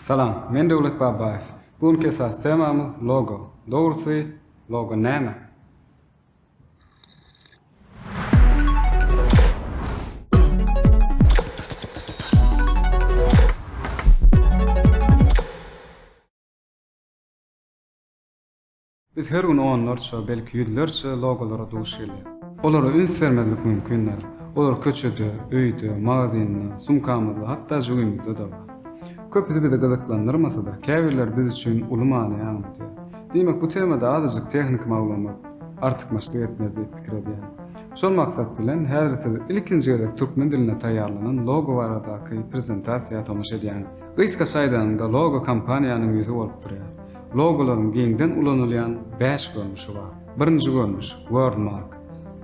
Salam, men Döwlet Babaýew. Bu günki esasy temamyz logo. Dogrusy, logo näme? Biz her gün onlarça, belki ýüzlerçe logolara duş gelýäris. Olara üns bermezlik mümkin däl. Olar köçede, öýde, magazynda, sumkamyzda, hatda jübimizde-de bar. Köpüsi bizi gyzyklandyrmasa-da, käbirleri biz üçin uly many aňladýar. Diýmek, bu temada azajyk tehniki maglumat artykmaçlyk etmez diýip pikir edýän. Şol maksat bilen, häzir siz ilkinji gezek türkmen dilinde taýýarlanan logo baradaky prezentasiýa tomaşa edýäňiz. Gysgaça aýdanyňda, logo kompaniýanyň ýüzi bolup durýar. Logolaryň giňden ulanylýan bäş görnüşi bar. Birinji görnüş, wordmark.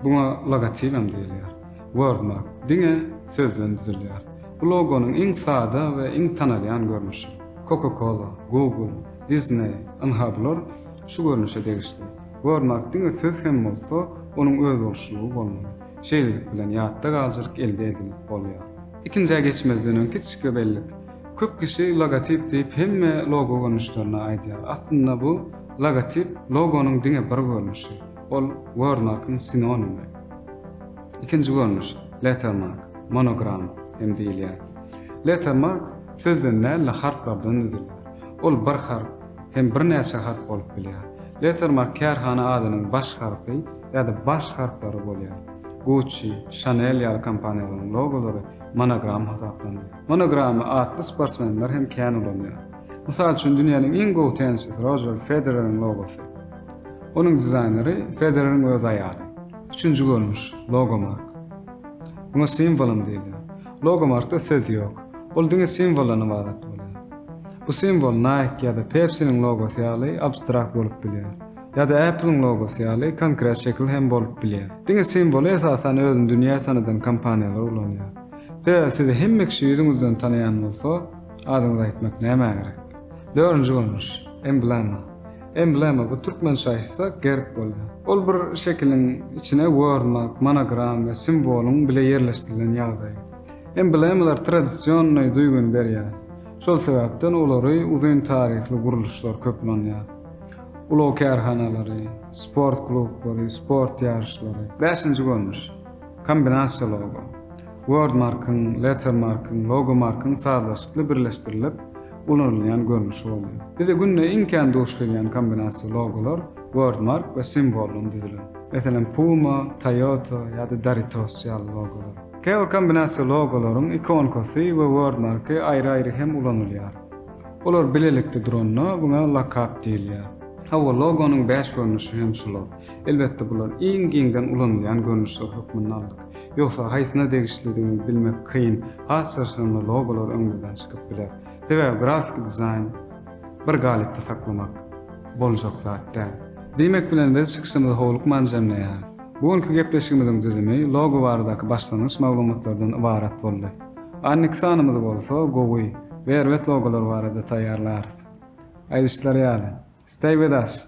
Buňa logotip hem diýilýär. Wordmark, diňe sözden düzülýär. Bu logonyň iň sada we iň tanalýan görnüşi. Coca-Cola, Google, Disney, ynha bular şu görnüşe degişli. Wordmark diňe söz hem bolsa, onuň özboluşlylygy bolmaly. Şeýlelik bilen ýatda galjylyk elde edilip bolýar. Ikinjä geçmezden öň kiçijik bir bellik. Köp kişi logotip diýip hemme logo görnüşlerini aýdýar. Aslynda bu logotip logonyň diňe bir görnüşi. Ol wordmarkyň sinonimi. Ikinji görnüş, lettermark, monogram hem diýilýär. Lettermark sözden däl-de harplardan düzülýär. Ol bir harp hem birnäçe harp bolup bilýär. Lettermark kärhana adynyň baş harpy ýa-da baş harplary bolýar. Gucci, Chanel ýaly kompaniýalaryň logolary monogram hasaplanylýar. Monogramy atly sportsmenler hem kän ulanýar. Mysal üçin, dünýäniň iň gowy tennisçisi Rojer Federeriň logosy. Onuň dizaýneri Federeriň öz aýaly. Üçünji görnüş, logomark. Muňa simwolum diýilýär. Logomarkda söz ýok. Ol diňe simwoldan ybarat bolýar. Bu simwol Nike ýa-da Pepsi-niň logosy ýaly abstrakt bolup bilýär. Ýa-da Apple-iň logosy ýaly konkret şekil hem bolup bilýär. Diňe simwoly esasan özüni dünýä tanadan kompaniýalar ulanýar. Sebäbi sizi hemme kişi ýüzüňizden tanaýan bolsa, adyňyzy aýtmak nämä gerek? Dördünji görnüş, emblema. Emblema, bu türkmen şaýysa gerb bolýar. Ol bir şekiliň içine wörmak, monogram we simwolyň bile ýerleşdirilen ýagdaýy. Emblemalar tradisionnyý duýgyny berýär. Şol sebäpden olary uzyn taryhly gurluşlar köp ulanýar. Ulag kärhanalary, sport klublary, sport ýaryşlary. Bäşinji görnüş, Kombinasiýaly logo. Wordmark-yň, Lettermark-yň, Logomark-yň sazlaşykly birleşdirilip ulanylýan görnüşi bolýar. Bize günde iň kän duş gelýän kombinasiýa logolar wordmark we simwoldan düzülen. Meselem, Puma, Toyota ýa-da Doritos ýaly logolar. Käbir kombinasiýa logolaryň ikonkasy we wordmarky aýry-aýry hem ulanylýar. Olar bilelikde duranda, muňa lokap diýilýär. Hawa, logonyň bäş görnüşi hem şular. Elbetde bular iň giňden ulanylýan görnüşler hökmünde aldyk. Ýogsa haýsyna degişlidigini bilmek kyn, has çyrşyrymly logolar öňümizden çykyp biler. Sebäbi grafiki dizaýn bir galypda saklamak boljak zat däl. Diýmek bilen biz çykyşymyzy howlukman jemleýäris. Bu günki gepleşigimiziň düzümi logo baradaky başlangyç maglumatlardan ybarat boldy. Annik sanymyzy bolsa gowy we erbet logolar barada taýýarlarys. Aýdyşlary ýaly, Stay with us!